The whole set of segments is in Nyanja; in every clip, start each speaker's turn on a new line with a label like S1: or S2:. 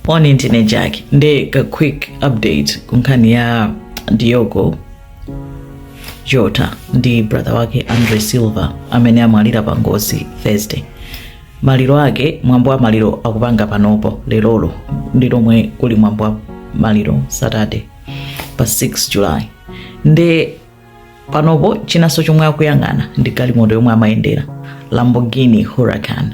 S1: moni ndine jack nde ka quick update kunkhani ya diogo jota ndi brother wake andre silva amene amwalira pa ngozi thursday maliro ake mwambo wa maliro akupanga panopo lerolo ndi lomwe kuli mwambo wa maliro saturday pa 6 july nde panopo chinanso chomwe akuyang'ana ndi galimoto yomwe amayendera lamborghini huracan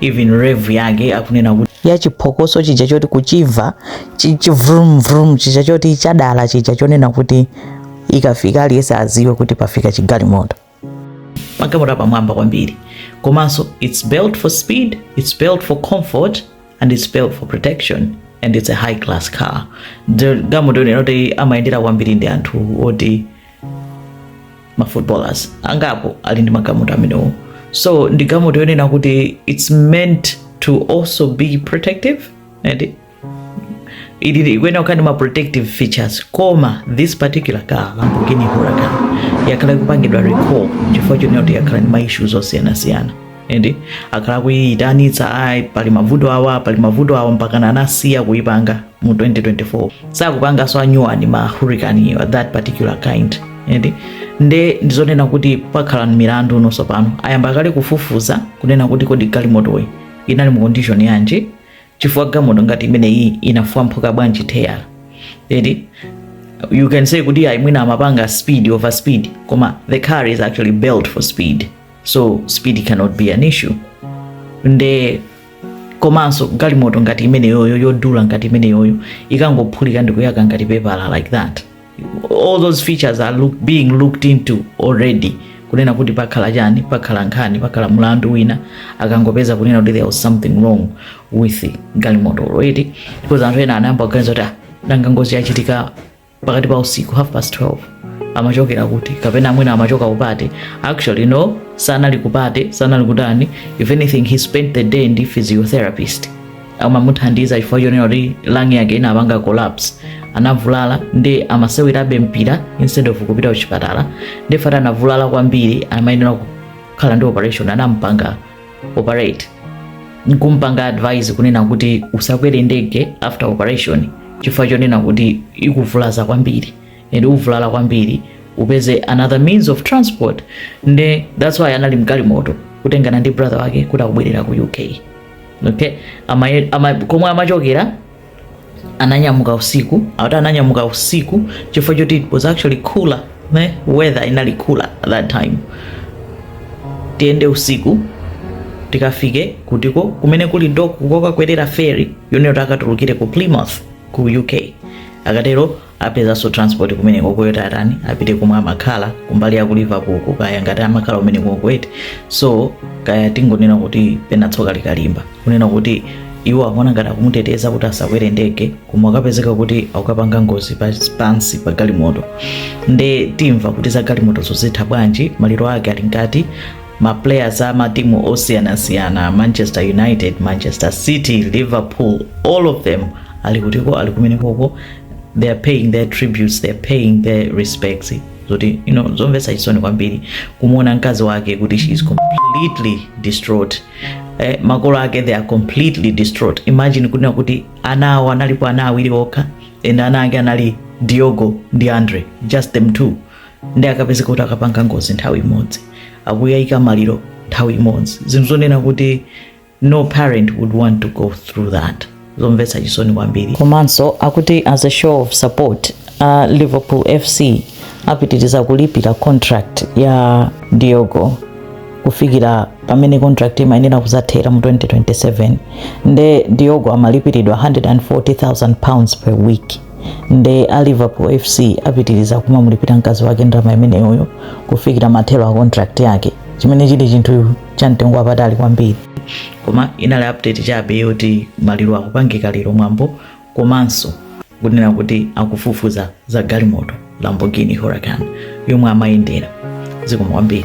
S1: even rev yake akunena kuti ya chiphokoso chija choti kuchimva chi- chivrum vrum chija choti chadala chija chonena kuti ikafika aliyense aziwe kuti pafika chigalimoto magalimoto apamwamba kwambiri komanso its built for speed its built for comfort and its built for protection and its a high class car galimoto yonena kuti amayendera kwambiri ndi anthu oti ma footballers angapo ali ndi magalimoto amenewo so ndi galimoto yonena kuti its meant to also be protective and ikuyenera kukhala ndi ma protective features koma this particular car lamborghini huracan yakhala ikupangidwa recall chifukwa chonena kuti yakhala ndi ma issues osiyanasiyana ende akhala akuyiyitanitsa ayi pali mavuto awa pali mavuto awa mpakana anasiya kuyipanga mu 2024 sakupanganso anyuwani ma huracan a that particular kind ende nde ndizonena kuti pakhala milandu ndiponso pano ayamba kale kufufuza kunena kuti kodi galimotoyi inali mu condition yanji chifukwa galimoto ngati imeneyi inafwamphuka bwanji teyala eti you can say kuti ayi mwina amapanga speed over speed koma the car is actually built for speed so speed cannot be an issue nde komanso galimoto ngati imeneyoyo yodula ngati imeneyoyo ikangophulika ndikuyaka ngati pepala like that all those features are being looked into already kunena kuti pakhala chani pakhala nkhani pakhala mlandu wina akangopeza kunena kuti there was something wrong with galimoto already because anthu ena anayamba kuganiza kuti ah, nanga ngozi yachitika pakati pa usiku half past 12 amachokera kuti kapena mwina amachoka kupate actually no sanali kupate sanali kutani if anything he spent the day ndi physiotherapist amamuthandiza chifukwa chonena kuti lung yake inapanga collapse anavulala ndi amasewerabe mpira instead of kupita kuchipatala nde after anavulala kwambiri amayenera kukhala ndi operation anampanga operate nkumpanga advise kunena kuti usakwere ndege after operation chifukwa chonena kuti ikuvulaza kwambiri and uvulala kwambiri upeze another means of transport nde that's why anali mgalimoto kutengana ndi brother wake kuti akubwerera ku uk okay ama, ama, komwe amachokera ananyamuka usiku akuti ananyamuka usiku chifukwa choti it was actually cooler nde weather inali cooler at that time tiyende usiku tikafike kutiko kumene kuli dock kokakwerera ferry yo ndiye takatulukire ku plymouth ku uk akatero apezanso transport kumeneko koti atani apite komwe amakhala kumbali ya ku liverpool ko kaya ngati amakhala kumeneko kwete so kaya tingonena kuti pena tsoka likalimba kunena kuti iwo akuona ngati akumuteteza kuti asakwere ndege koma akapezeka kuti akukapanga ngozi pa- pansi pa galimoto nde timva kuti za galimoto zo zitha bwanji maliro ake ali mkati ma players a matimu osiyanasiyana manchester united manchester city liverpool all of them ali kutiko ali kumenekoko they are paying their tributes they are paying their respects zoti you know zomvetsa chisoni kwambiri kumuona mkazi wake kuti she is completely distraught eh, makolo ake they are completely distraught imagine kunena kuti ana awo analipo ana awiri okha and ana ake anali diogo ndi andre just them two ndi akapezeka kuti akapanga ngozi nthawi imodzi akukayika maliro nthawi imodzi zinthu zonena kuti no parent would want to go through that zomvetsa chisoni kwambiri komanso akuti as a show of support uh, liverpool fc apitiriza kulipira contract ya diogo kufikira pamene contract imayenera kuzathera mu 2027 nde diogo amalipiridwa 140000 pounds per week nde a liverpool fc apitiriza kumamulipira mkazi wake ndalama imeneyoyo kufikira mathero a contract yake chimene chili chinthu cha mtengo wapatali kwambiri koma inali update chabe yoti maliro akupangika lero mwambo komanso kunena kuti akufufuza za galimoto lamborghini huracan yomwe amayendera zikomo kwambiri